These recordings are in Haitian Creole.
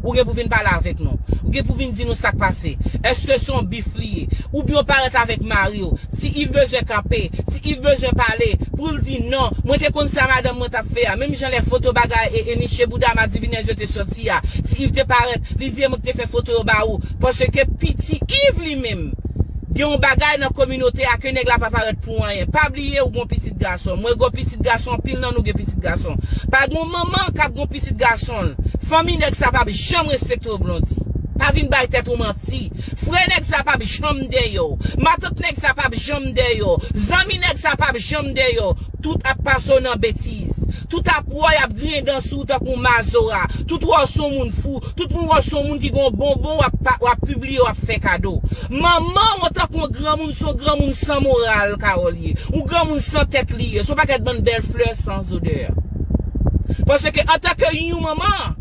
Ou gen pou vin pale avèk nou. Ou gen pou vin di nou sak pase. Eske se yon bif li ye. Oubyen w parèt avèk mari w. Ti Iv bezwen kanpe. Ti Iv bezwen pale. Pou l di non. Mwen te konn sa madanm mwen t ap fè a. Menm jan lè foto bagay e e niche bouda madivinèz yo te soti a. Ti Iv te parèt. Li di e mwen ki te fè foto yo ba ou. Paske pi ti Iv li menm. Gen yon bagay nan kominote a ke nèg la pa parèt pou anyen. Pa. Pye ou gon pitit gason. Mwen gon pitit gason anpil nan nou gen pitit gason. Pa gon manman kap gon pitit gason l. Fanmi nèg sa pap janm respekte w Blondy. Pa vin bay tèt ou manti. Frè nèg sa pap janm dèyè w. Matant nèg sa pap janm dèyè w. Zanmi nèg sa pap janm dèyè w. Tout ap pase w nan betiz. Tout ap wè w y ap griyen dan sou w tankou mazora. Tout wè w se yon moun fou. Tout moun wè w se yon moun ki gen yon bonbon w ap pibliye w ap fè kado. Manman w tankou yon granmoun se yon granmoun san moral Carole ye. Yon granmoun san tèt li ye. Se yon pakèt bann bèl flè san zodè. Paske antanke yon manman,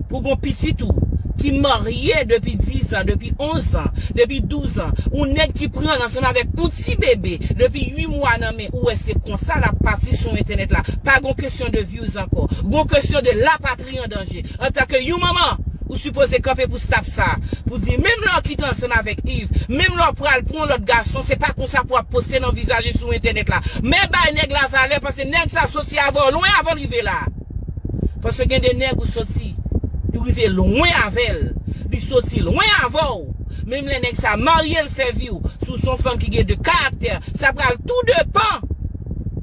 pou w gen yon pitit ou ki marye depi dizan, depi onzan, depi douzan, yon nèg ki pran l ansanm avèk yon ti bebe depi ui mwa nan men. Ou wè se konsa lap pati sou entènèt la. Pa gon kesyon de views ankò. Gon kesyon de la patri an danje. Antan ke yon manman, ou sipoze kanpe pou staff sa. Pou di menm lè w kite ansanm avèk Yves, menm lè w pral pou yon lòt gason, se pa konsa pou ap poste nan vizaj li sou entènèt la. Men bay nèg la valè paske nèg sa soti avè w lwen avan l rive la. Paske gen de nèg ou soti ou rive lwen avèl li soti lwen avèw menm lè nèg sa maryel fè viw si w son fanm ki gen de karaktè sa pral tou depan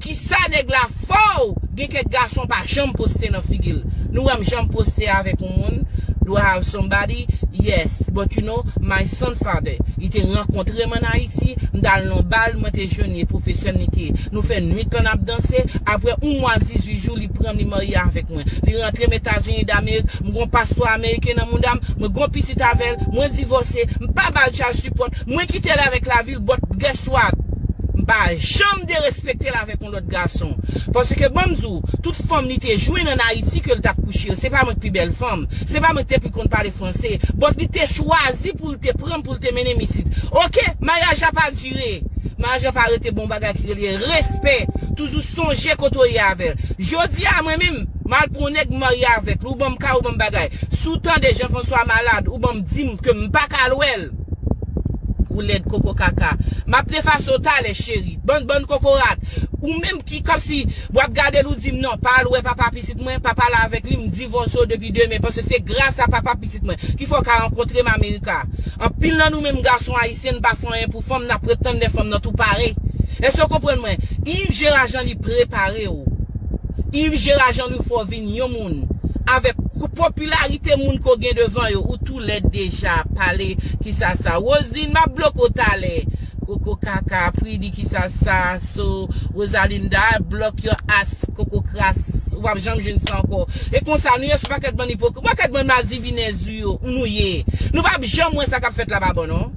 kisa nèg la fòw gen kèk gason pa janm poste nan figil nou wèm janm poste avèk yon moun do i have somebody yes but you know my son father li te rankontre'm an ayiti m tal nan bal mwen te jwenn li e pwofesèm li te. Nou fè nwit lan nap danse, aprè yon mwa 18 jou li pranm li marye avèk mwen. Li rantrem Etazini Damerik, m gon paspò ameriken nan moudam, mwen gon pitit avèl, mwen divòse, m pa bal child support, mwen kitel avèk lavil but guess what? M pa janm derespektel avèk yon lòt gason. Paske banm di w, tout fanm li te jwenn an Ayiti kel tap kouche yo, se pa mwen k pi bèl fanm, se pa mwen k te pi konn pale franse, but li te chwazi poul te pranm poul te mennem isit. Ok, maryaj la pa Jere Majò pa rete bon bagay ki rele respè toujou sonje kote w ye avè l Jodi a mwen menm m al pran yon nèg m marye avèk li ou ban m kay ou ban m bagay si w tande Jean François malad ou ban m di m ke m pa ka al wè l Ou lèd koko kaka M ap defase w talè cheri Bann bann kokorat Ou menm ki kòmsi w ap gade l ou di m non pa al wè papa pitit mwen pa pale avèk li m di. divorce ou depi demen paske se gras a papa pitit mwen ki fè w ka rankontre m America anpil nan nou menm gason ayisyen n pa fè anyen pou fanm nap ret tann lè fanm nan tou pare eske w konprann mwen Yves Gérard Jean li prepare w Yves Gérard Jean li fè w vin yon moun avèk popilarite moun ke w gen devan yo ou tou lèd deja pale kisa sa Roseline map bloke w talè Koko kaka pridi kisa sa so rosalinda block yo as koko kras ou pap janm jwenn sa anko e konsa nou ye sou paket bann ipokrit paket bann madivinez ou yo ou nou ye nou pap janm wè sa kap fet la pa bon non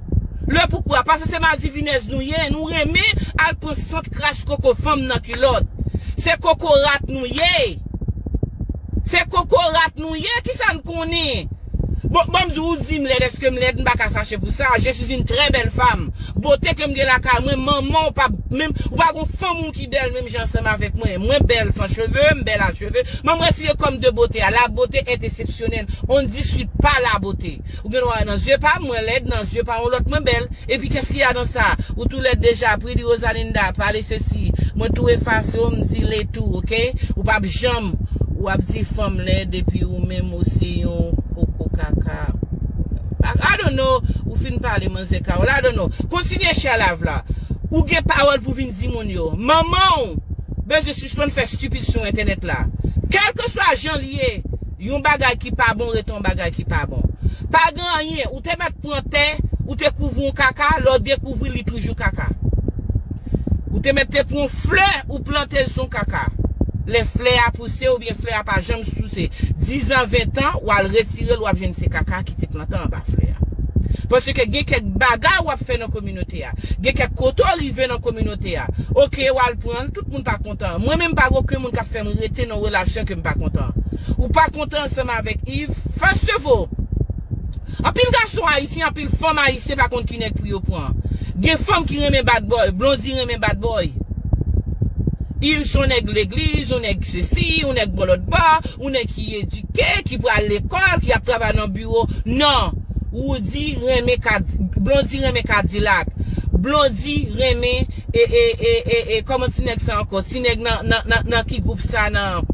le poukou a pase se madivinez nou ye nou renmen al pran sant kras koko fanm nan kulot se koko rat nou ye se koko rat nou ye kisa nou konnen. Bon, banm di w ou di m lèd eske m lèd m pa ka fache pou sa, je suis une très belle femme bote ke m gen lakay mwen manman w pa menm ou pa gon fanm ou ki bèl menm jan ansanm avèk mwen, mwen bèl san cheve, m bèl a cheve, m'en m retire kò m de bote a, la beauté est exceptionnelle, on ne discute pas la beauté ou gen dwa wè nan zye pa m mwen lèd nan zye pa yon lòt mwen bèl, epi qu'est-ce qu'il y a dans ça ou tou lèd deja Priddy Rosalinda pale sesi mwen tou efase w m di le tou ok ou pap janm wap di fanm lèd epi ou menm. Ou se yon koko kaka. I don't know ou fin pale manzè Carole I don't know kontinye share live la ou gen pawòl pou vin di moun yo manmanw bezwen sispann fè stupid sou entènèt la kèlkeswa jan li ye yon bagay ki pa bon rete yon bagay ki pa bon pa gen anyen ou te mèt pran tè ou te kouvri yon kaka lè w dekouvri li toujou kaka. Ou te mèt te pran flè ou plantel son kaka. Lè flè a pouse oubyen flè a pa janm souse 10 ans 20 ans wal retirel wap jwenn se kaka ki te plante anba flè a. Paske gen kèk bagay wap fè nan kominote a. Gen kèk kote w rive nan kominote a. Ok wal pranl tout moun pa kontan. Mwen menm pa gen oken moun kap fèm rete nan relasyon kem pa kontan. Ou pa kontan ansanm avèk Yves? First of all. Anpil gason ayisyen anpil fanm ayisyen pa konn ki nèg pou yo pran. Gen fanm ki renmen bad boy, Blondie renmen bad boy. Il son nèg legliz, yon nèg sesi, yon nèg bò lòt bò, yon nèg ki edike, ki pral lekòl, ki ap travay nan biwo. Non! Roody renmen Blondie renmen kadilak. Blondie renmen. E e e e e kòman ti nèg sa ankò ti nèg nan nan nan nan ki gwoup sa nan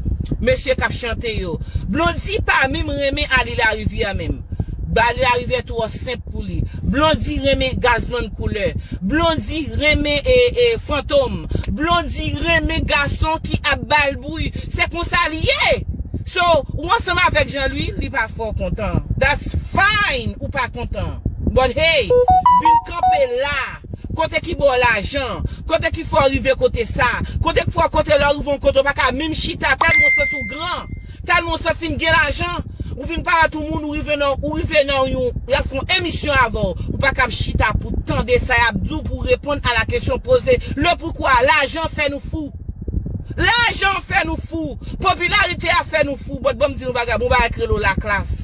mesye kap chante yo Blondy pa minm renmen Arly Larivière minm Arly Larivière twò senp pou li Blondy renmen Gazzman Couleur Blondy renmen e e Fantom Blondy renmen gason ki ap bal bri se konsa li ye so ou ansanm avèk Jean Louis li pa fè w kontan that's fine ou pa kontan but hey vin kanpe la. Kote ki baw lajan an? Kote ki fè w rive kote sa? Kote ki fè w kote lè w rive yon kote w pa ka menm chita tèlman w santi w gran? Tèlman w santi m gen lajan? Ou vin pale ak yon moun ou rive nan ou rive nan yon yap fè yon emisyon avè w ou pa kab chita pou tande sa yap di w pou reponn a la kesyon poze le poukwa lajan fè nou fou. Lajan an fè nou fou, popilarite a fè nou fou, but banm di nou bagay, gon bagay k rele la klas.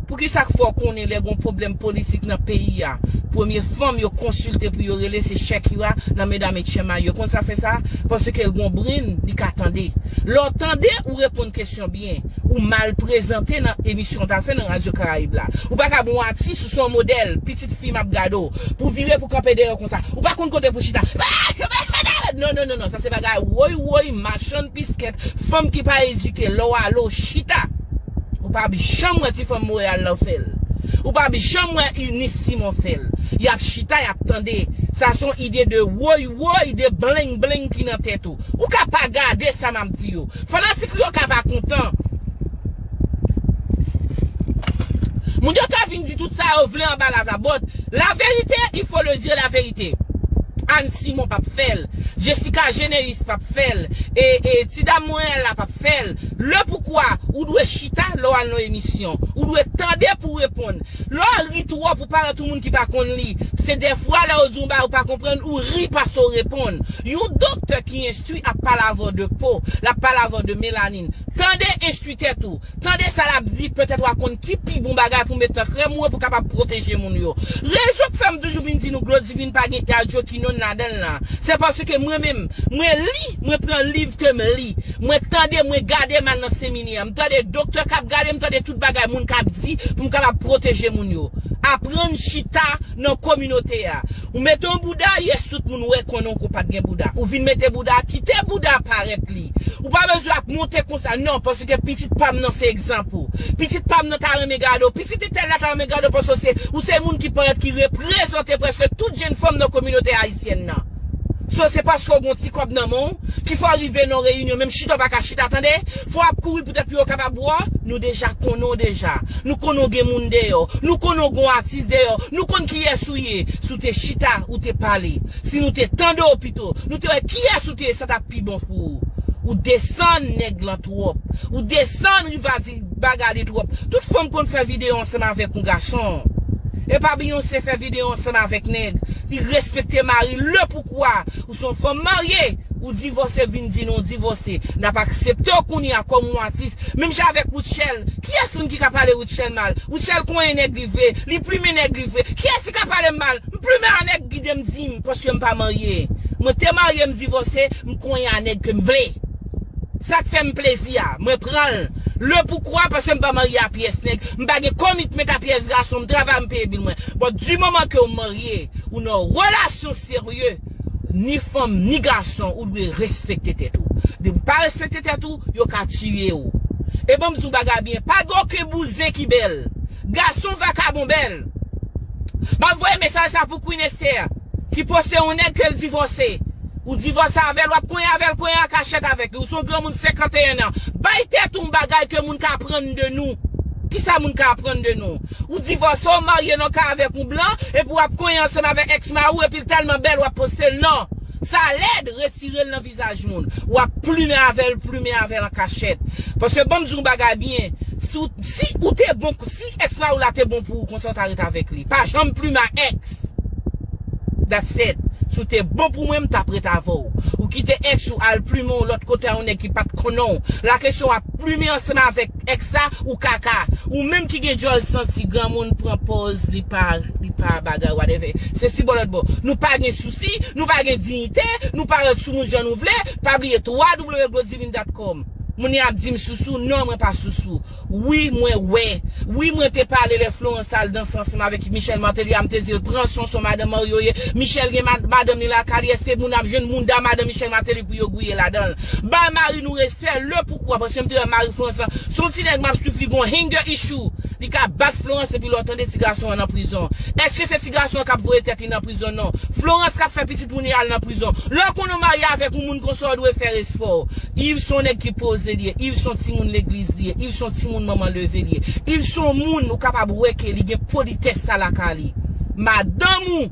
Poukisa k fò konnen lè gon pwoblèm politik nan peyi a, premye fanm yo konsilte pou yo rele se Shakira nan medam et chen may yo, konn sa fè sa, paske l gon brenn, li ka tande. Lè w tande, ou reponn kesyon byen, ou mal prezante nan emisyon w ta fè nan radyo karayib la. Ou pa kab yon atis, ou se yon modèl, pi. Pitit fi map gade w pou vire pou kanpe dèyè w konsa ou pa konn kote pou chita non non non sa se bagay woy woy machann piskèt fanm ki pa edike lè w ale w chita ou pap janm wè ti fanm Montréal lan fè l ou pap janm wè Eunice Simon fè l yap chita yap tande sa se yon ide de woy woy de bleng bleng ki nan tèt ou ou ka pa gade sa map di yo fanatik ou yo ka pa kontan. Moun yo ka vin di tout sa yo vle anba la zabòd, la vérité il faut le dire la vérité Anne Simon pap fèl, Jessica Généus pap fèl, e e ti dam Montréal la pap fèl, le poukwa ou dwe chita lè w al nan emisyon, ou dwe tande pou w reponn, lè w ri twòp ou parèt yon moun ki pa konn li, se dèfwa lè yo di yon bagay ou pa konprann ou ri pase w reponn, yon doktè ki enstwi ap palavè w de po, lap palavè w de melani. Tande, enstwi tèt ou. Tande sa l ap di, petèt w a konn ki pi bon bagay pou met nan krèm ou yo pou kapab pwoteje moun yo. Rezon k fè m toujou vin di nou Glo Divin pa gen Hidroquinone ladan l lan, se paske mwen menm, mwen li, mwen pran liv ke m li, mwen tande, mwen gade m al nan seminè, m tande doktè k ap gade, m tande tout bagay moun k ap di pou m kapab pwoteje moun yo. Aprann chita nan kominote a. Ou mete yon bouda, yes tout moun wè konnen w ke w pa t gen bouda. Ou vin mete bouda, kite bouda parèt li. Mezanmi Ou pa bezwen ap monte konsa non paske pitit pam nan se egzanp ou pitit pam nan ta renmen gade w pitit entèl la ta renmen gade w paske w se ou se moun ki parèt ki reprezante prèske tout jenn fanm nan kominote ayisyèn nan so se paske w gon ti kòb nan men w ki fè w rive nan yon reyinyon menm chita w pa ka chita tande fò w ap kouri poutèt pou yo kapab wè w nou deja konnen w deja nou konnen w gen moun deyò nou konnen w gon atis deyò nou konn kiyès ou ye si w te chita ou te pale si nou te tande w pito nou te wè kiyès ou te ye sa ta pi bon pou ou. Ou desann nèg lan twòp. Ou desann Riva di bagay li twòp. Tout fanm konn fè video ansanm avèk yon gason. Epa Beyoncé fè video ansanm avèk nèg. Li respekte mari l. Lepoukwa ou se yon fanm marye, ou divòse vin di nou divòse. N ap aksepte w kounye a kòm yon atis. Menm jan avèk Rutshelle. Kiyès moun ki ka pale Rutshelle mal? Rutshelle konyen nèg li vre. Li plimen nèg li vre. Kiyès ki ka pale m mal? Plumen a nèg gidem dim paskem pa marye mwen te marye m divose m konyen a nèg kem vle sak fèm plezi a mwen pranl le poukwa paskem pa marye a pyès nèg m pa gen komitment a pyès gason m travay m peye bil mwen bon du moman kew marye ou nan relasyon serye ni fanm ni gason ou dwe respekte tèt ou depiw pa respekte tèt ou yo ka tiyew e banm diw bagay byen pa gen oken bouzen ki bèl gason vakabon bèl. Map voye mesaj sa pou Queen Esther ki poste yon nèg kel divòse ou divòse avèl wap konyen avèl konyen an kachèt avèk li ou son granmoun 51 ans bay tèt ou yon bagay ke moun ka aprann de nou kisa moun ka aprann de nou ou divòse ou marye nan kay avèk yon blan epi wap konyen ansanm avèk ex mari ou epil tèlman bèl wap postel nan sa lèd retirel nan vizaj moun wap plumen avèl plumen avèl an kachèt paske banm di yon bagay byen si ou te bon si Ex mariw la te bon pou ou konsa ou ta ret avek li pa janm pluma ex That's it Si w te bon pou mwen m tap ret avè w Ou kite ex ou al plumen yon lòt kote a yon nèg ki pat konnen w la kesyon wap plumen ansanm avèk ex la ou kaka Ou menm ki gen dyòl santi granmoun pran pòz li pa li pa bagay whatever Se si bò lòt bò Nou pa gen sousi nou pa gen diyite nou parèt sou moun jan nou vle pa bliye www Godivindat com Moun yo ap di m sousou non mwen pa sousou Wi mwen wè. Wi mwen te pale lè Florence tal danse ansanm avèk Michel Martelly a m te dil pran Sonson madan Mario ye Michel gen madanm li lakay li eske moun ap jwenn mounda madan Michel Martelly pou yo gouye ladanl bay mari nou respè le poukwa paske m te wè mari Florence lan son ti nèg map swiv li gon hanger issue li ka bat Florence epi lè w tande ti gason an nan prizon eske se ti gason an kap voye tèt li nan prizon non Florence kap fè pitit moun yo al nan prizon lè w konnen w marye avèk yon moun konsa w dwe fè respè w Yves son nèg ki poze li ye, Yves son timoun legliz li ye, Yves son timoun manman leve li ye, Yves son moun ou kapab wè ke li gen politès sa lakay li. Madanm ou,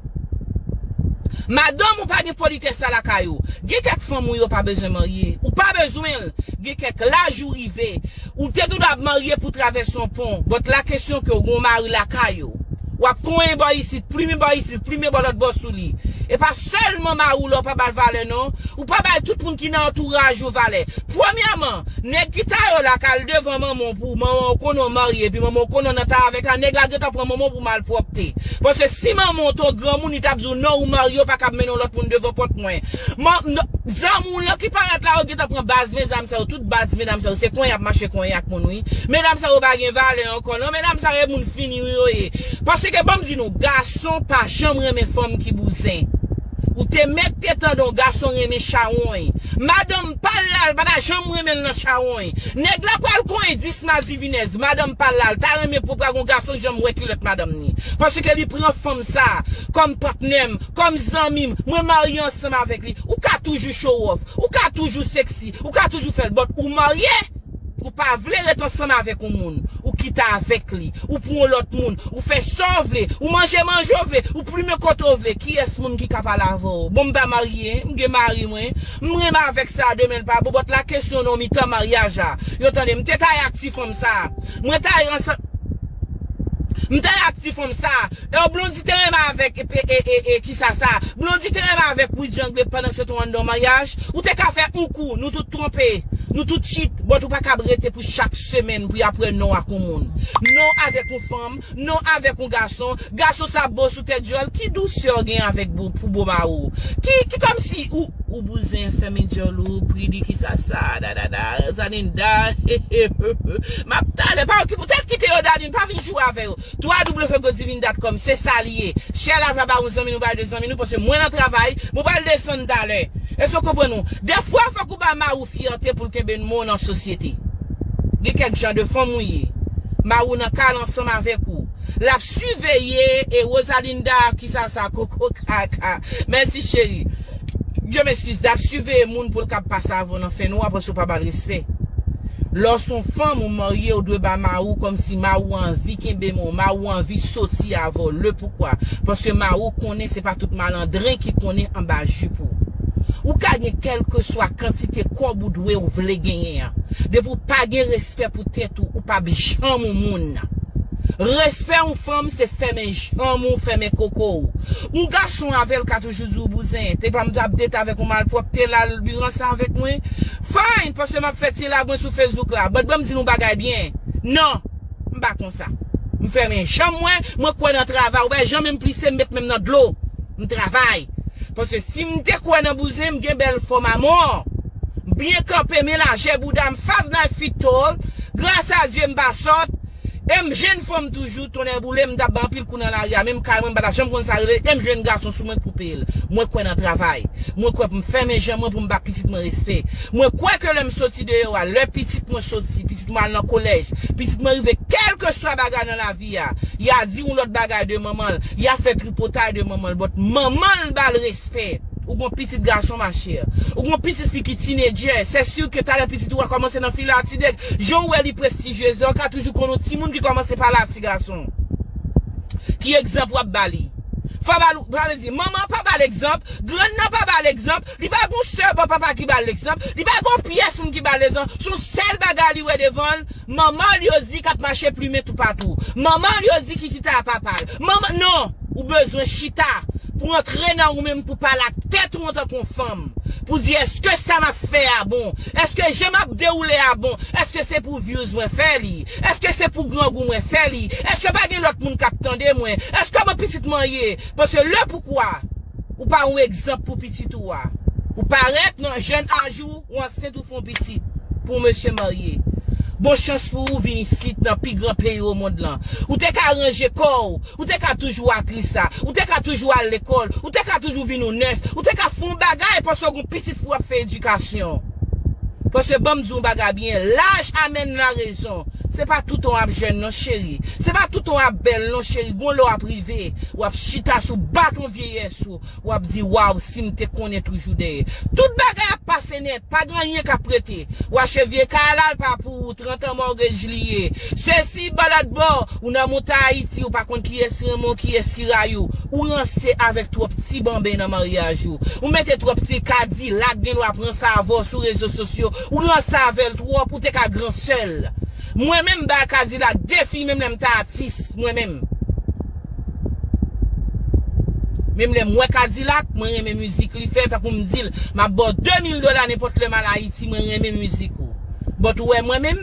madanm ou pa gen politès sa lakay ou. Gen kèk fanm ou yo pa bezwen marye, ou pa bezwen l, gen kèk laj ou rive, Ou te gendwa ap marye pou travèse yon pon, but la kesyon ke ou gen yon mari lakay ou. Wap konyen bò isit, plimen bò isit, plimen bò lòt bò sou li. E pa sèlman mari w la ou pa ba l valè non, ou pa bay tout moun ki nan antouraj ou valè. Premyèman, nèg ki ta yo la ka al devan manman w pou w, manman w konnen w marye epi manman w konnen w nan ta avèk la, nèg la gentan pran manman w pou malpwòpte. Paske si manman w te yon granmoun li tap di w non ou marye ou pa kab mennen yon lòt moun devan pòt mwen. Zanmi w lan ki parèt la yo gentan pran baz mezanm sa yo tout. Badz medam sa yo se kwen yap mache kwen ak moun wi medam sa yo pa gen valè ankò nan medam sa yo e moun fini wi yo ye paske banm di nou gason pa janm renmen fanm ki bouzen ou te mèt te tande yon gason renmen chawony madanm pal la li pata janm renmen l nan chawony nèg la pral kony 10 madivinèz madanm pal la li ta renmen pou pa gon gason ki janm wè kilòt madanm ni paske li pran fanm sa kòm patnèm kòm zanmim mwen marye ansanm avèk li ou ka toujou chowòf ou ka toujou seksi. Ou ka toujou fèl but ou marye ou pa vle ret ansanm avèk yon moun ou kite avèk li ou pran yon lòt moun ou fè saw vle ou manje manje w vle ou plumen kote w vle kiyès moun ki ka pale avèw bon m pa marye m gen mari mwen m renmen avèk sa demenl pa bon but la kesyon nan mitan maryaj la yo tande m te ta ye ak ti fanm sa mwen ta ye ansanm m ta ye ak ti fanm sa e w blondy te renmen avèk e e e Sa sa. Blondy te renmen avek widiangle pandan se te yon andan maryaj, ou te ka fè yon kou, nou tout twonpe, nou tout tchit, but ou pa kab rete pou chak semèn pou yap wè non ak yon moun, non avek yon fanm, non avek yon gason, gason sa bo sou tèt dyòl, ki dousè ou gen avek bo pou bo mari w, ki ki kòmsi ou ou bouzen fèmen dyòl ou pri li ki sa sa dadada zaninda heheheheh map tale pa okipe ou tèt kite yo dadin pa vin joure avè yo. www.godivindatcom se sa li ye chè la vla ba yon zanmi nou bay de zanmi nou paske mwen nan travay mwen pral desann talè eske ou konprann nou dèfwa fòk ou ba mariw fyète poul kenbe nmon w nan sosyete gen kèk jan de fanm ou ye mariw nan kal ansanm avèk ou lap siveye e Rosalinda kisa sa kokokaka mèsi cheri. Bndye m eskiz dap siveye moun poul kab pase avè w nan fè nwa paske w pa bal respè lè w son fanm ou marye ou dwe ba mari w kòmsi mari w anvi kenbe men w mari w anvi soti avè w le poukwa paske mari w konnen se pa tout malandren ki konnen anba jup ou ou ka gen kèlkeswa kantite kòb ou dwe w vle genyen an depi w pa gen respè pou tèt ou ou pap janm yon moun respè yon fanm se fèmen janm ou fèmen koko w yon gason avè l ka toujou di w bouzen. Te pa m tap date avèk ou malpwòp te la li ranse avèk mwen Fine paske map fè ti lagwen sou Facebook la but banm di nou bagay byen Non m pa konsa M fèmen janm mwen mwen kwè nan travay ou wè jan menm plise m met menm nan dlo m travay paske si m te kwè nan bouzen m gen bèl fòm amò m byen kanpe men lajè bouda m 5 life feet tall gras a Dye m pa sòt M jenn fanm toujou, tonnè boule m, m tap bay anpil kou nan lari a, menm kay mwen m pa tap janm konn sa rele, e m jwenn gason sou mwen k pou peye l. Mwen kwè nan travay. Mwen kwè pou m fèmen je mwen pou m ba pitit mwen respè. Mwen kwè ke lè m soti deyò a, lè pitit mwen soti, pitit mwen al nan kolèj, pitit mwen rive kèlkeswa bagay nan lavi a, ya di yon lòt bagay de manman l, ya fè tripotay de manman l, but manman l ba l respè. Ou gon pitit gason ma chère. Ou gon pitit fi ki teenager, c'est sûr que talè pitit ou a kòmanse nan file a ti nèg, jan ou wè li prestigieuse la ou ka toujou konn yon timoun ki kòmanse pale a ti gason. Ki egzanp wap ba li? Fò ba l, sa vle di, manman an pa ba l egzanp, grann nan pa ba l egzanp, li pa gon sè bò papa ki ba l egzanp, li pa gon pyès moun ki ba l egzanp, son sèl bagay li wè devan l, Manman l yo di k ap mache plimen toupatou. Manman l yo di ki kita a papa l. Manman, non! Ou bezwen chita pou antre nan ou menm pou pale ak tèt ou antanke yon fanm. Pou di èske sa m ap fè a bon? Èske jan m ap dewoule a bon? Èske se pou vyouz mwen fè li? Èske se pou grangou mwen fè li? Èske pa gen lòt moun k ap tande mwen? Èske mwen pitit manyen? Paske lepoukwa ou pa yon egzanp pou pitit ou a? Ou parèt nan jèn aj ou. Ou ansent ou fon pitit pou mesye marye. Bon chans pou ou vin isit nan pi gran peyi o mond lan. Ou te ka ranje kò ou. Ou te ka toujou aktris la. Ou te ka toujou al lekòl. Ou te ka toujou vin yon nès. Ou te ka fon bagay paske ou gon pitit fou ap fè edikasyon. Paske banm di yon bagay byen, laj amèn la rezon. Se pa toutan w ap jèn non cheri. Se pa toutan w ap bèl non cheri. Gon lè w ap rive, w ap chita sou baton vyeyès ou. Wap di waw sim te konnen toujou dèyè tout bagay ap pase nèt pa gen anyen kap rete wa che vye kay la l pa pou ou 30 an morgage li ye sesi balad bò ou nan mouta ayiti ou pa konn kiyès renmen w kiyès ki rayi w ou ranse avèk twòp ti banben nan maryaj ou ou mete twòp ti kadilak gen dwa pran sa avè w sou rezo sosyo ou ranse avè l twòp ou te ka gran sè l mwen menm m bay kadilak defi menm lè m ta atis mwen menm. Menm lèm wè kadilak mwen renmen mizik li fè tankou m dil map baw 2 mil dola nenpòt lèm al ayiti mwen renmen mizik ou but ou wè mwen menm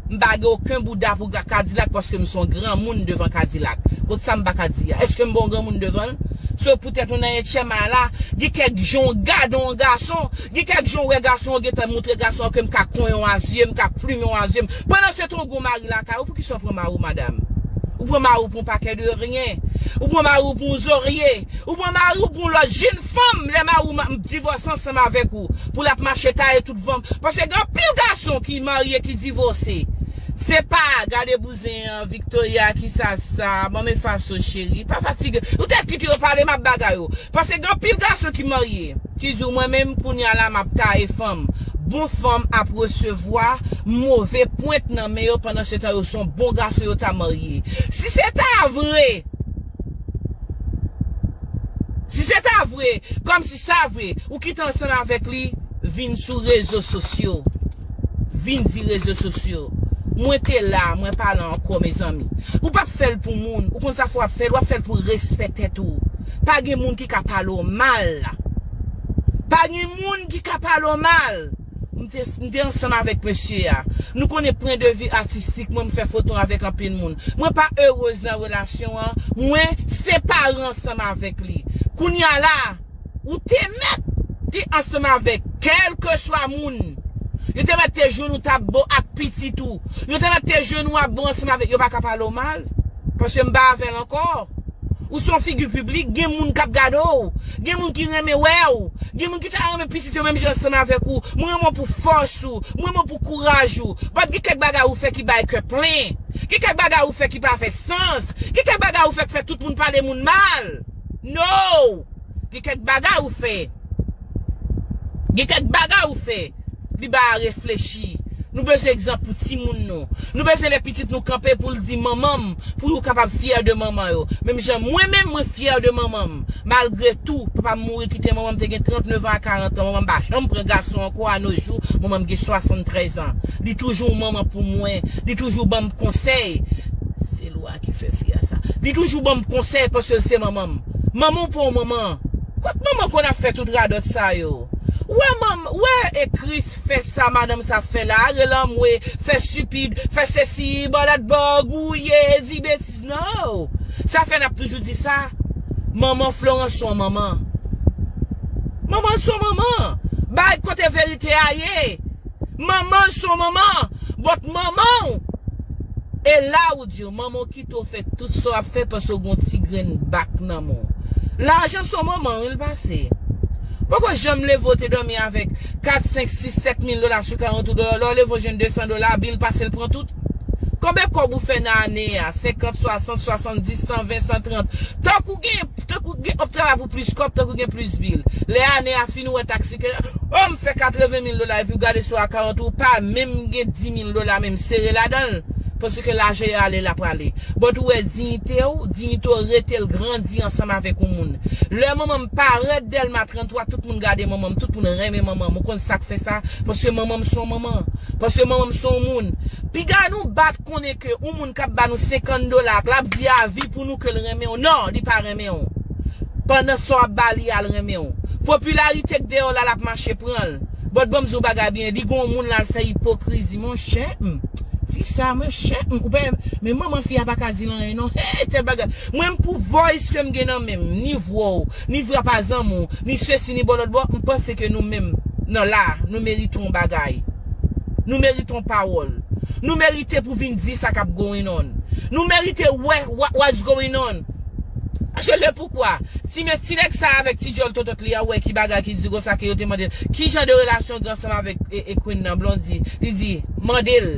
m pa gen oken bouda pou kadilak paske m son granmoun devan kadilak kot sa m paka di a eske m pa yon granmoun devan l so poutèt nou nan etyèm a la gen kèk jan w gade yon gason gen kèk jan w wè gason an w gentan moutre gason an ke m ka konyen w a zye m ka plumen w a zye m pandan se tan w gen yon mari lakay ou poukisa w pran mari w madam ou pran mari w. Ou pa kè de ryen. Ou pran mari w pou yon zorye. Ou pran mari w pou yon lòt jinn fanm lè mari w ma divòse ansanm avèk ou pou l ap mache taye tout van paske gen anpil gason ki marye ki divose se pa gade bouzen an Victoria ki sa sa ban m efaso cheri pa fatige ou te kite yo pale m ap bagay ou paske gen anpil gason ki marye ki di w mwen menm kounya la m ap taye fanm bon fanm ap resevwa move pwent nan men yo pandan se tan yo son bon gason yo ta marye. ye. Si se ta vre, si se ta vre, kòm si sa vre, ou kite ansanm avèk li vin sou rezo sosyo, vin di rezo sosyo, mwen te la, mwen pa la ankò mezanmi. Ou p ap fè l pou moun, ou konn sa fè w ap fè l, w ap fè l pou respè tèt ou. Pa gen moun ki ka pale w mal. Pa gen moun ki ka pale w mal. M te m te ansanm avèk mesye a. Nou konnen pwen de vi atistik mwen m fè foto avèk anpil moun. Mwen pa erez nan relasyon an, mwen separe ansanm avèk li. Kounya la, ou te mèt te ansanm avèk kèlkeswa moun. Yo te mèt te jwenn ou t ap bon ak pitit ou. Yo te mèt te jwenn ou ap bon ansanm avèk yo pa ka pale w mal. Paske m pa avè l ankò. Ou son figi piblik, gen moun kap gade w, gen moun ki renmen wè w, gen moun ki ta renmen pitit yo menm jan san avèk ou, mwen renmen w pou fòs ou, mwen renmen w pou kouraj ou, bat gen kèk bagay ou fè ki bay kè plen, gen kèk bagay ou fè ki pa fè sans, gen kèk bagay ou fè k fè tout moun pale moun mal, no! Gen kèk bagay ou fè. Gen kèk bagay ou fè. Li ba a reflechi. Nou bezwen egzanp pou timoun nou. Nou bezwen lè pitit nou kanpe pou l di manman m pou yo kapab fyè de manman yo. Menm jan mwen menm mwen fyè de manman m. Malgre tou, papa m mouri kite manman m te gen 39 an a 40 an. Manman m pa janm pran gason ankò a no jou. Manman m gen 73 an. Li toujou yon manman pou mwen. Li toujou ban m konsèy. A ki fè fi a sa. Li toujou banm konsèy paskel se manmanm. Manmanw pa yon manman. Kot manman konn ap fè tout radòt sa yo. Ou wè manm ou wè e Chris fè sa madanm sa ap fè la a rele anmwe fè stupid fè sesi balat ba gouye di betiz nan. Sa fè nap toujou di sa manman Florence son manman. Manmanl son manman. Bay kote verite a ye. Manman l son manman but manman w e la ou di yo manman w kite w fè tout sa w ap fè paske w gen yon ti grenn bak nan men w lajan son manman wi l pase poko janm leve w te dòmi avèk 4 5 6 7 mil dola sou 40 ou lè w leve w jwenn 200 dola bil pase l pran tout konbe kòb ou fè nan ane a 50 60 70 120 130 tank ou gen Tankou gen wap travay pou plis kòb, tankou gen plis bil. Lè ane a fini ou wè taksi ke, oh m fè 80 mil dola epi ou gade sou akawont ou pa menm gen 10 mil dola menm sere ladanl paske lajan yo ale la prale. But ou wè diyite ou, diyite ou rete l grandi ansanm avèk yon moun. Lè manman m parèt Dèlma 33 tout moun gade manman m, tout moun renmen manman m ou konn sak fè sa paske manman m son manman, paske manman m son moun. Piga nou bat. konnen ke yon moun kap ba nou 50 dola ak lap di avi pou nou kel renmenw nan li pa renmenw pandan sa wap ba li a l renmenw popilarite k deyò la lap mache pranl but banm diw bagay byen li gen yon moun lal fè ipokrizi monchè humm fi sa monchè humm ou pa wè men manman fi a paka dil anyen non hee tel bagay mwen m pou voice kem gen nan menm ni vwaw ni vwa pa zanmiw ni sesi ni bò lòt bò m panse ke nou menm nan la nou merite yon bagay. Nou merite yon pawòl. Nou merite pou vin di sa kap going on. Nou merite wè what's going on. Je le poukwa. Ti men ti nèg sa avèk ti djòl totot li a wè ki bagay ki di konsa ke yo te mande l ki jan de relasyon gen ansanm avèk Queen nan Blondie. Li di, mande l.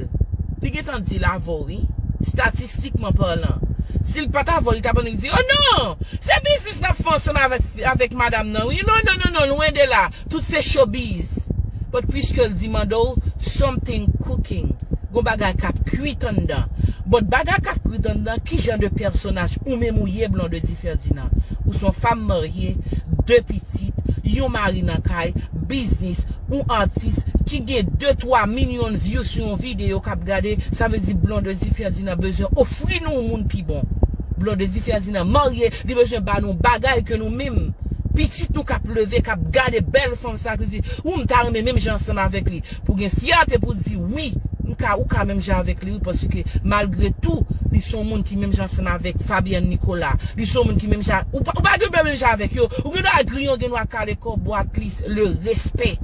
Li gen tan di l avèw wi. Statistikman parlan. Si l pat avèw li tap annik di, oh non! Se biznis nap fè ansanm avèk madam nan wi. Non non non non lwen de la. Tout se showbiz. But puisque l di mande w something cooking, gon bagay k ap kwit anndan. But bagay k ap kwit anndan ki jan de pèsonaj ou menm ou ye Blondedy Ferdinand? Ou s on fanm marye, 2 pitit, yon mari nan kay, biznis, ou atis ki gen 2, 3 minyon vyou sou yon videyo k ap gade, sa vle di Blondedy Ferdinand bezwen ofri nou moun pi bon. Blondedy Ferdinand marye, li bezwen ba nou bagay ke nou menm Pitit nou kap leve kap gade bèl fanm sa ki di wi m ta renmen menm jan ansanm avèk li pou gen fyète pou di wi m ka ou ka menm jan avèk li wi paske malgre tou li son moun ki menm jan ansanm avèk Fabienne Nicolas li son moun ki menm jan ou pa gen dwe menm jan avèk yo ou gen dwa griyon gen dwa kale kò bo atlis le respè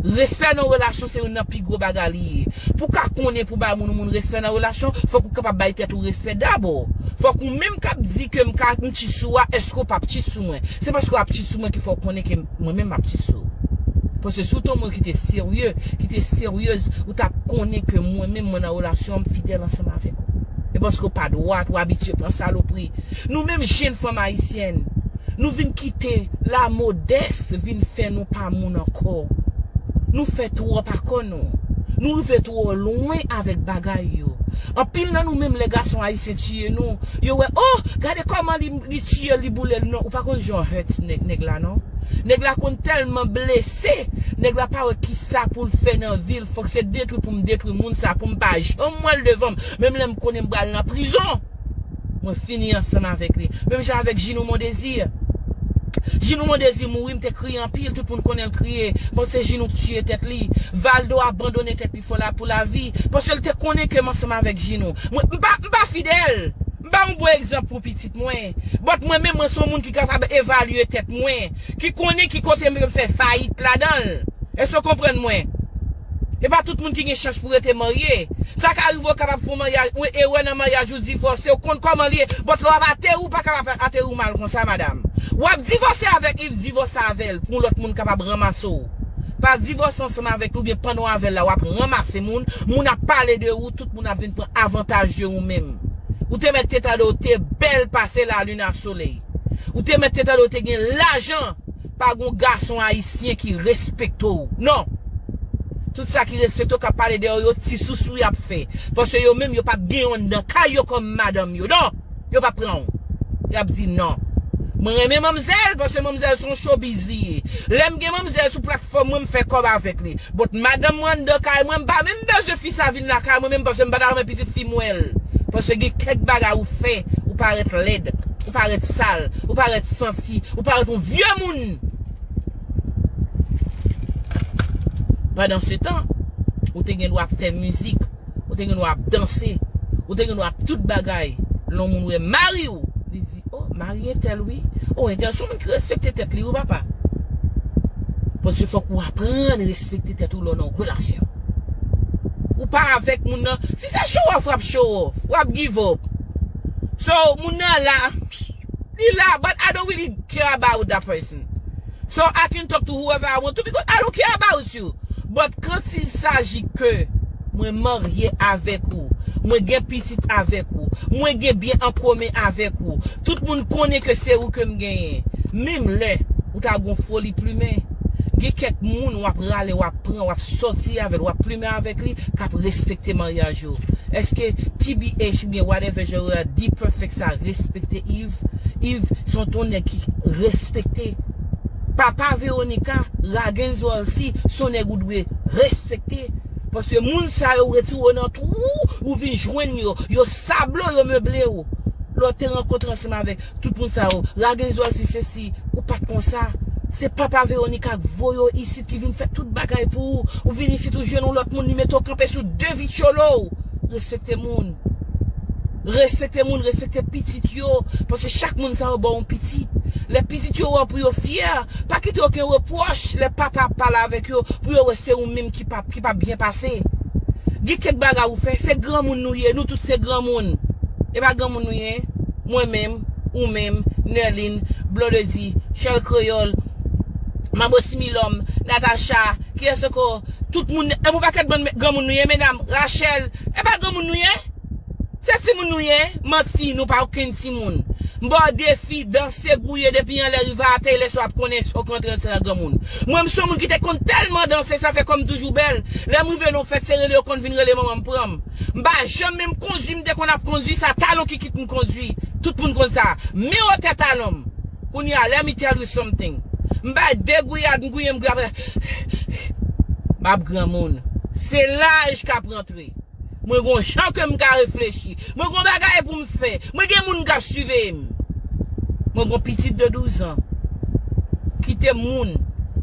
respè nan relasyon se youn nan pi gwo bagay li ye pou w ka konnen pou w bay moun ou moun respè nan relasyon fòk ou kapab bay tèt ou respè dabò fòk ou menm kap di ke m ka Chit sou a eske ou pap chit sou mwen se paske wap chit sou mwen ki fè ou konnen ke mwen menm map chit sou ou paske si ou te yon moun ki te serye ki te seryez ou tap konnen ke mwen menm mwen nan relasyon an m fidèl ansanm avèk ou e paske ou pa dwat ou abitye pran salopri nou menm jenn fanm ayisyèn nou vin kite lamodès vin fè nou pa moun ankò nou fè twòp akò. Nou rive twò lwen avèk bagay yo. Anpil nan nou menm lè gason ayisyen tiye nou, yo wè oh gade kòman li tiyel li boulel non ou pa konn jan w hurt nèg la non. Nèg la konn tèlman blese, nèg la pa wè kisa poul fè nan vil fòk se detwi poum detwi moun sa poum pa janm wèl devanm menm lèm konnen m pral nan prizon. Mwen fini ansanm avèk li. Menm jan avèk Ginou Mon Désir. Ginou Mon Désir mouri m te kriye anpil, tout moun konnen l kriye, panse Ginou k tiye tèt li. Valdo abandone tèt li fò la pou lavi, paske l te konnen ke m ansanm avèk Ginou. Mwen, m pa, m pa fidèl. M pa yon bon egzanp pou pitit mwen. But mwen menm mwen se yon moun ki kapab evalye tèt mwen, ki konnen ki kote m fè fayit ladan l. Èske w konprann mwen? E pa tout moun ki gen chans pou rete marye. Sa ka rive ou kapab fè yon maryaj, yon erè nan maryaj ou divòse, ou konn kòman li ye, but lè wap ateri ou pa ka ap ateri ou mal konsa madam. Wap divòse avèk li, divòse avèl pou yon lòt moun kapab ranmase w. Pa divòse ansanm avèk li oubyen pandan w avèl la wap ranmase moun, moun ap pale de ou, tout moun ap vin pran avantaj de ou menm. Ou te mèt te tande ou te bèl pase lalin a solèy. Ou te mèt te tande ou te gen lajan. Pa gon gason ayisyen ki respekte w non Tout sa ki respekte w kap pale dèyè w yo ti sousou yap fè Paske yo menm yo pap gen yon nan kay yo kòm madanm yo non Yo pap pran w Yap di non Mwen renmen manmzèl paske manmzèl son showbiz li ye Lèm gen manmzèl sou platfòm mwen mfè kòb avèk li But madanm mwen anndan kay mwen mpa menm bezwen fi sa vin lakay mwen menm paske mpata renmen pitit fi m wè l Paske gen kèk bagay ou fè ou parèt lèd ou parèt sal ou parèt santi Haiti ou paret yon vye moun Pandan se tan ou te gen dwa ap fè mizik ou te gen dwa ap danse ou te gen dwa ap tout bagay lon moun wè mari ou li di o mari entèl wi o entèl son moun ki respekte tèt li wi papa paske fòk ou aprann respekte tèt ou lè w nan yon relasyon ou pa avèk moun nan si se show off w ap show off w ap give up so moun nan la Li la but I don't really care about that person so I can talk to whoever I want to because I don't care about you but quand il s'agit que mwen marye avèk ou mwen gen pitit avèk ou mwen gen byen an komen avèk ou tout moun konnen ke se ou kem genyen menm lè ou ta gon foli plumen gen kèk moun wap rale wap pran wap sòti avèl wap plumen avèk li kap respekte maryaj ou eske TBH oubyen whatever jan yo di perfect sa respekte Yves Yves son ton nèg ki respekte papa Veronica raguens Walcy son nèg ou dwe respekte paske moun sa yo ou retire yo nan twou ou vin jwenn yo yo sable w yo meble w lè w te rankontre ansanm avèk tout moun sa yo raguens Walcy sesi ou pat konsa se papa Veronica k voye w isit ki vin fè tout bagay pou ou ou vin isit ou jwenn yon lòt moun li mete w kanpe sou de vityolo w respekte moun. Respekte moun, respekte pitit yo, paske chak moun sa yo ba w yon pitit. Lè pitit yo wè w pou yo fyè, pa kite oken repwòch lè papa ap pale avèk yo pou yo wè se ou menm ki pa ki pa byen pase. Gen kèk bagay ou fè, se granmoun nou ye, nou tout se granmoun. E pa granmoun nou ye? Mwen menm, ou menm, Nerline, Blondedy, Shirl Kreyòl, Mabo Similòm, Natacha, kiyès ankò? Tout moun, e pou pakèt bann granmoun nou ye medam, Rachel, e pa granmoun nou ye? Se timoun nou ye? Manti, nou pa okenn timoun. M ba w defi, danse, gouye depi anlè rive atè lèsa w ap konnen èske w ka antre nan ti nan granmoun. Mwen m se yon moun ki te konn tèlman danse sa fè kò m toujou bèl, lè m rive nan yon fèt se rele yo konn vin rele manman m pran m. M pa janm menm kondwi m te konn ap kondwi sa talon ki kit m kondwi, tout moun konn sa. Miwotè talon m. Kounye a let me tell you something m bay de gouyad m gouye m gouye aprè m ap granmoun. Se laj k ap rantre. Mwen gon jan ke m ka reflechi. Mwen gon bagay pou m fè. Mwen gen moun k ap siveye m. Mwen gon pitit de douzan. Kite moun.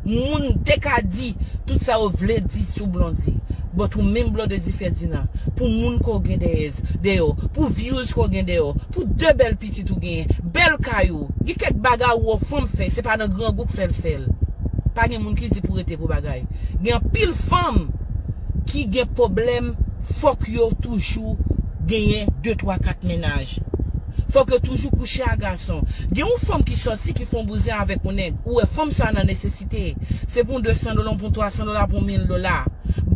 Moun te ka di tout sa yo vle di sou Blondie. But ou menm Blodedy Ferdinand, pou moun ke w gen dèyèz, dèyè w, pou views ke w gen dèyè w, pou de bèl pitit ou genyen, bèl kay ou, gen kèk bagay ou wè w fanm fè, se pa nan grangou k fè l fè l. Pa gen moun ki di pou rete pou bagay. Gen anpil fanm. ki gen poblèm fòk yo toujou genyen de twa kat mennaj fòk yo toujou kouche a gason gen yon fanm ki sòti ki fon bouzen avèk yon nèg ou wè fanm sa nan nesesite se pou yon desan dola yon pou yon twa san dola pou yon mil dola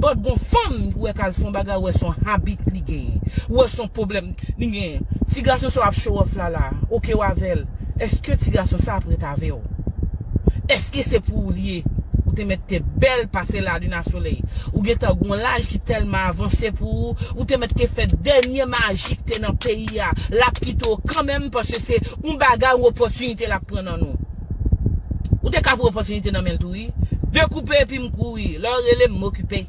but gon fanm ou wè kal fon bagay ou wè son habit li genyen ou wè son poblèm li genyen ti gason sa wap show off la la ok ou avèl. Eske ti gason sa ap ret avew? Eske se pou ou li ye? Ou te met te bel pase la lune a soleil. Ou gentan gon laj ki telman avanse pou ou, ou te met te fe denye maji ki te nan peyi a. Lap kite w kanmenm paske se yon bagay yon opotinite lap pran nan nou. Ou te ka pran opotinite nan menl tou wi. De koupe epi m kouri. Le w rele m m okipe.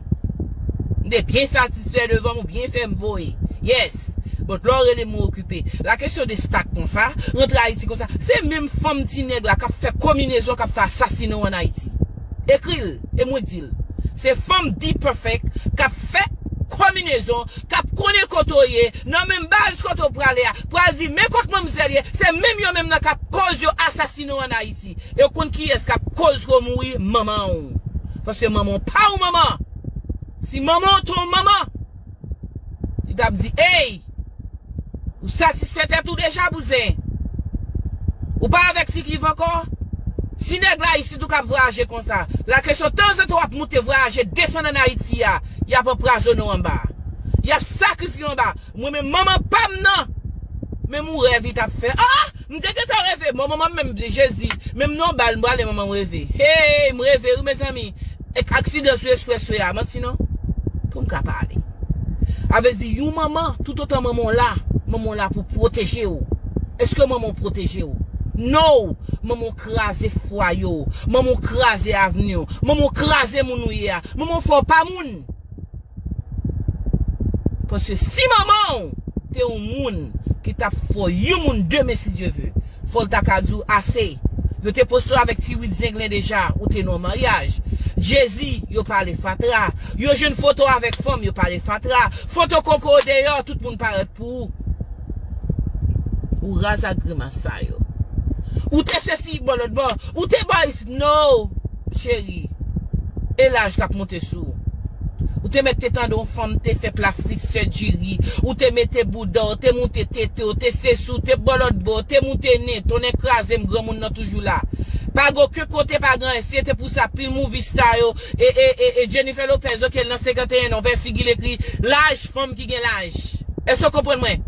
M te byen satisfe devanm ou byen fem voye. Yes. Alex But lè w rele m ou okipe La question de stack konsa Rantre Ayiti konsa Se menm fanm ti nèg la kap fè kominezon kap fè asasina w an Ayiti Ekri l e mwen di l Se fanm D-Perfect kap fè kominezon kap konnen kote w ye nan menm baz kote w prale a pral di men kot manmzèl ye Se menm yo menm nan kap koz yo asasine w an Ayiti E w konn kiyès kap koz ke w mouri Manman w Paske manman w pa w manman Si manman w te w manman Li tap di eyy! Ou satisfè tèt ou deja bouzen? Ou pa avèk fi Clive ankò? Si nèg la isit ou kap vwayaje konsa, la kesyon tanzantan wap moute vwayaje desann an Ayiti a, yap anprazone w anba. Yap sakrifye w anba. Mwen menm manman pam nan! Menm ou rèv li tap fè. Ahh! M te gentan reve mò manmanm menm jezi menm non bal m prale manmanm reve heyy m reve wi mezanmi ek aksidan sou espreswe a manti non poum ka pale avle di yon manman toutotan manman w la manman w la pou pwoteje w eske manman w pwoteje w no manman w kraze fwaye w manman w kraze avni w manman w kraze moun ou ye a manman w fè w pa moun. Paske si manman w te yon moun ki t ap fò yon moun demen si Dye ve, fò l ta ka di w ase. Yo te poste w avèk ti wid zenglen deja, ou te nan yon maryaj. Jezi, yo pale fatra. Yo jwenn foto w avèk fanm, yo pale fatra. Foto koko w deyò, tout moun parèt pou ou. Ou raz ak grimas sa yo. Ou te sesi, bon lòt bò, ou te bò ayiti. Tnoow cheri e laj kap moute sou ou Ou te mèt te tande yon fanm te fè plastic surgery ou te mete boudaw te moute tetew te sesi ou te bò lòt bò te moute nen tonnè krazem granmoun nan toujou la pa gen oken kote pa gen anyen si se te pou sa pil movie star yo e Jennifer Lopez ok l nan 51 an ou pa wè figil ekri laj fanm ki gen laj èske w konprann mwen.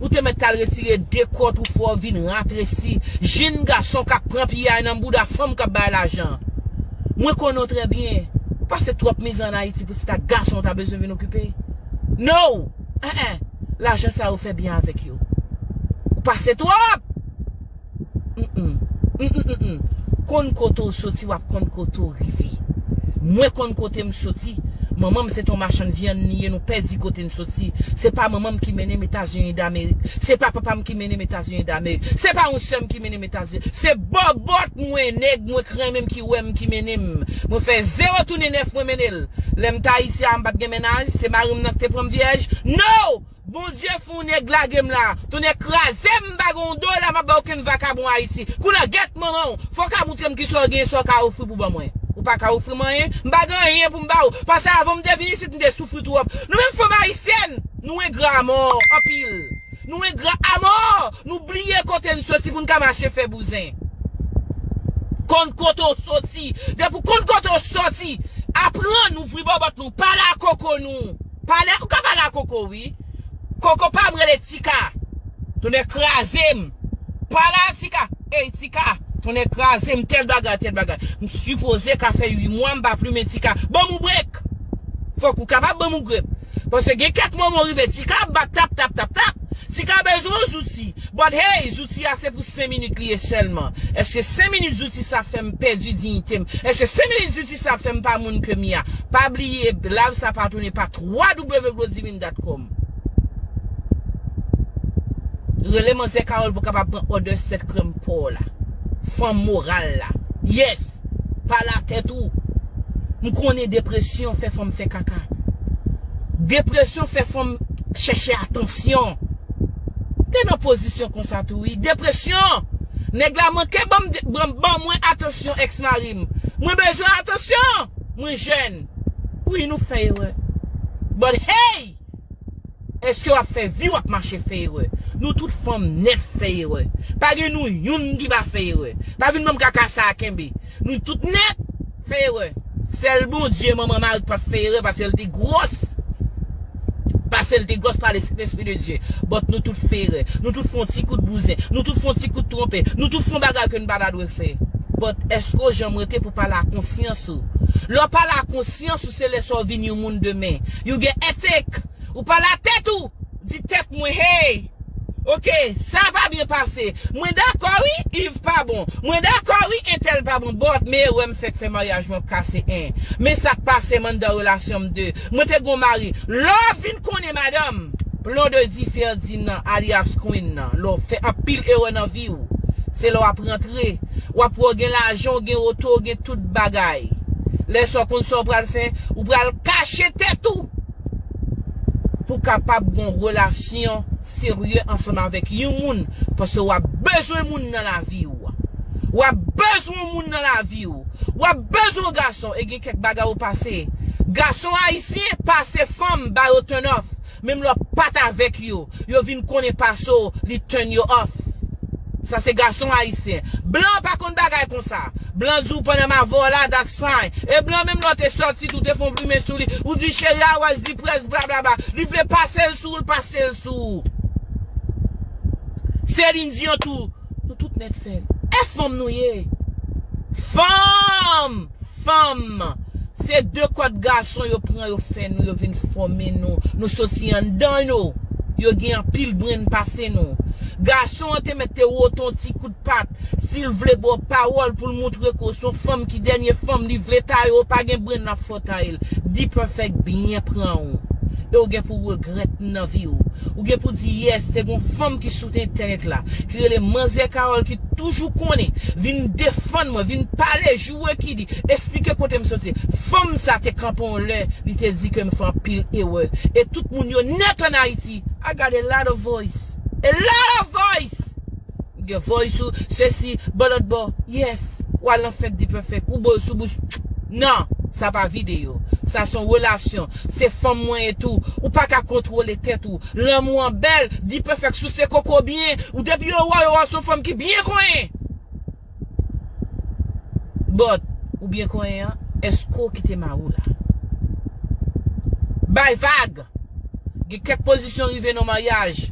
Ou te mèt tal retire de kòt ou fò vin ratresi jinn gason kap pran piyay nan bouda fanm kap bay lajan. Mwen konnen w trè byen. Ou pase twòp mizè an Ayiti pou se ta gason ou ta bezwen vin okipe. No! Enh! Lajan sa yo fè byen avèk yo. Ou pase twòp! Konn kote ou soti wap konn kote ou rive Mwen konn kote m soti Manman m se t yon machann vyann li ye nou pèdi kote n soti Se pa manman m ki mennen m Etazini Damerik Se pa papa m ki mennen m Etazini Damerik Se pa yon sè m ki mennen m Etazini Se bòbòt mwen nèg mwen k renmen m ki wè m ki mennen m Mwen fè zewo tounen nèf mwen mennen l Lè m t Ayiti a m pa t gen mennaj Se mari m nan k te pran m vyèj No! Bondye fon nèg lagem la. Tonnè krazem m pa gen yon dola map bay okenn vakabon ayiti. Koulè gèt manmanw fòw ka moutrem kisa w genyen sa w ka ofri pou ban mwen. Ou pa ka ofrim anyen. M pa gen anyen poum baw. Pase avanm te vin isit m te soufri twòp. Nou menm fanm ayisyèn nou engra amò anpil. Nou engra amò nou bliye kote n soti poun ka mache fè bouzen. Konn kote w soti. Depi w konn kote w soti aprann ouvri bòbòt nou pale ak koko nou. Pale ou ka pale a koko wi. Koko pam rele tika tonnè krazem pale a tika ey tika tonnè krazem tèl bagay tèl bagay m sipoze ka fè 8 mwa m pa plumen tika banm yon brek fòk ou kapab banm yon grep paske gen kèk moman ou rive tika ap bat tap tap tap tap tika bezwen yon zouti but hey zouti a se pou 5 minit li ye sèlman eske 5 minit zouti sa fèm pèdi diyitem eske 5 minit zouti. Atis la ap fèm pa moun ke mia. Pa bliye live sa pa toune pa www.glodivindatcom Rele manzè Carole pou kapab pran order set krèm paw la. Fanm moral la. Yes! Pale a tèt ou. M konnen depresyon fè fanm fè kaka. Depresyon fè fanm chèche atansyon. M te nan pozisyon konsa tou wi. Depresyon! Nèg la manke banm banm mwen atansyon ex marim. m mwen bezwen atansyon mwen jèn wi nou fè erè but hey eske wap fè vi wap mache fè erè nou tout fanm nèt fè erè pa gen nou youn ki pa fè erè pa vin banm kaka sa a kenbe nou tout nèt fè erè sèl Bondye manman Marie ki pat fè erè paske l te gwòs. Pasel te gwòs pale Sentespri de Dye, but nou tout fè erè, nou tout fè yon ti kout bouzen, nou tout fè yon ti kout twonpe, nou tout fè yon bagay ke nou pa ta dwe fè. But eske ou janm rete pou pale a konsyans ou? Lè w pale a konsyans ou se lè sa w vin yon moun demen. You gen ethic! Ou pale a tèt ou! Di tèt mwen hey! Ok sa pa byen pase. Mwen dakò wi Yves pa bon mwen dakò wi entèl pa bon but me erè m fèk fè maryaj mwen ap kase 1 me sak pasem anndan relasyon m 2 mwen te gon mari lè w vin konnen madanm Blondedy Ferdinand alyas Queen nan lè w fè anpil erè nan vi w se lè w ap rantre w ap wè w gen lajan w gen oto w gen tout bagay lè sa w konn sa w pral fè ou pral kache tèt ou. Pou kapab gon relasyon serye ansanm avèk yon moun paske wap bezwen moun nan lavi ou wap bezwen yon moun nan lavi ou wap bezwen yon gason e gen kèk bagay ou pase gason ayisyen pase fanm ba yo turn off menm lè wap pat avèk yo yo vin konnen pase w li turn yo off sa se gason ayisyen blan pa konn bagay konsa blan di w pandan m avè w la that's fine e blan menm lè w te sòti tou te fè yon plimen sou li ou di cheri a wè di près blablabla li vle pase l sou w l pase l sou w Céline Dion tou. Nou tout nèt fèl. E fanm nou ye! Fanm! Fanm! Se de kòd gason yo pran yo fè nou yo vin fòme nou. Nou soti anndan yo. Yo gen anpil brenn pase nou. Gason an te mèt te wote yon ti kout pat. Si l vle ba w pawòl pou l moutre ke w se yon fanm ki dènye fanm li vle taye w pa gen brenn l ap fòme w. Style, D-Perfect byen pran ou. E ou gen pou regrèt nan vi ou. Ou gen pou di yes te gon fanm ki sou entènèt la, ki rele Manzè Carole ki toujou konnen, vin defann mwen, vin pale, joure ki di, esplike kote m soti. Fanm sa te kanpe yon lè, li te di ke m fè anpil erè. E tout moun yo nèt an Ayiti. I got a lot of voice. A lot of voice! Gen voice ou sesi bò lòt bò yes ou al nan fèt D-perfect ou bol sou bouch nan sa pa video sa son relasyon se fanm mwen ye tou ou paka kontwole tèt ou lanmou an bèl D-perfect souse koko byen ou depi yo wè w yo wè w son fanm ki byen konyen. But ou byen konyen an eske ou kite mari w la. Bay vag! Gen kèk pozisyon rive nan maryaj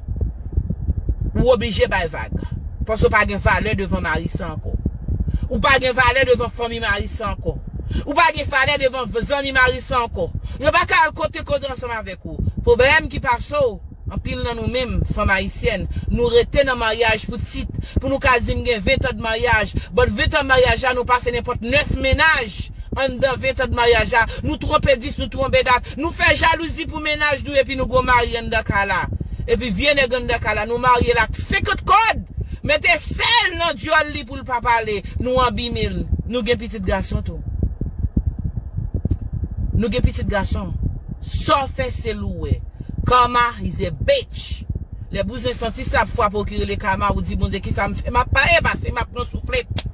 ou oblije bay vag. Paske ou pa gen valè devan mari sa ankò. Ou pa gen valè devan fanmi mari sa ankò. Ou pa gen valè devan zanmi mari sa ankò. Yo pa ka al kote kote ansanm avèk ou. Pwoblèm ki pase w. Anpil nan nou menm, fanm ayisyèn, nou rete nan maryaj pou tit, pou nou ka di m gen 20 tan de maryaj, but 20 tan maryaj la nou pase nenpòt 9 mennaj anndan 20 tan de maryaj la, nou twonpe 10, nou twonpe 4, nou fè jalouzi pou mennaj nou epi nou gon mari anndan kay la. Epi vye nèg anndan kay la nou marye l ak 50 kòd, mete sèl nan dyòl li pou l pa pale, nou anbime l. Nou gen pitit gason tou. Nou gen pitit gason. Sa w fè se l ou wè. Karma is a bitch Lè bouzen santi sa ap fwape w ki rele Karma ou di Bondye kisa m fè map paye pase map pran souflet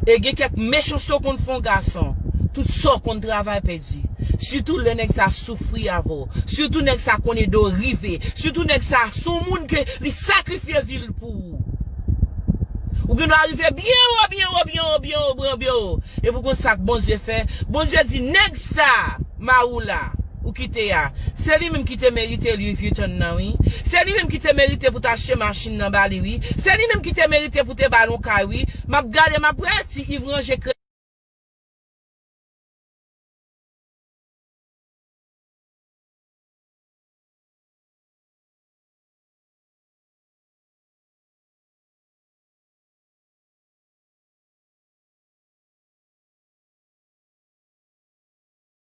E gen kèk mechanste w konn fè yon gason tout sa w konn travay pèdi sitou lè nèg sa soufri avè w sitou nèg sa konn ede w rive sitou nèg sa se yon moun ke li sakrifye vi l pou ou Ou gen dwa rive byen wo byen wo byen wo byen wo byen wo epi w konn sa Bondye fè Bondye di nèg sa Maroula. Ou kite ya. Se li minm ki te merite Louis Vuitton nan wi. Se li minm ki te merite pou te achte machinn nan ba li wi. Se li minm ki te merite pou te ba l on kay wi. Map gade map wè ti Yves ranje kre.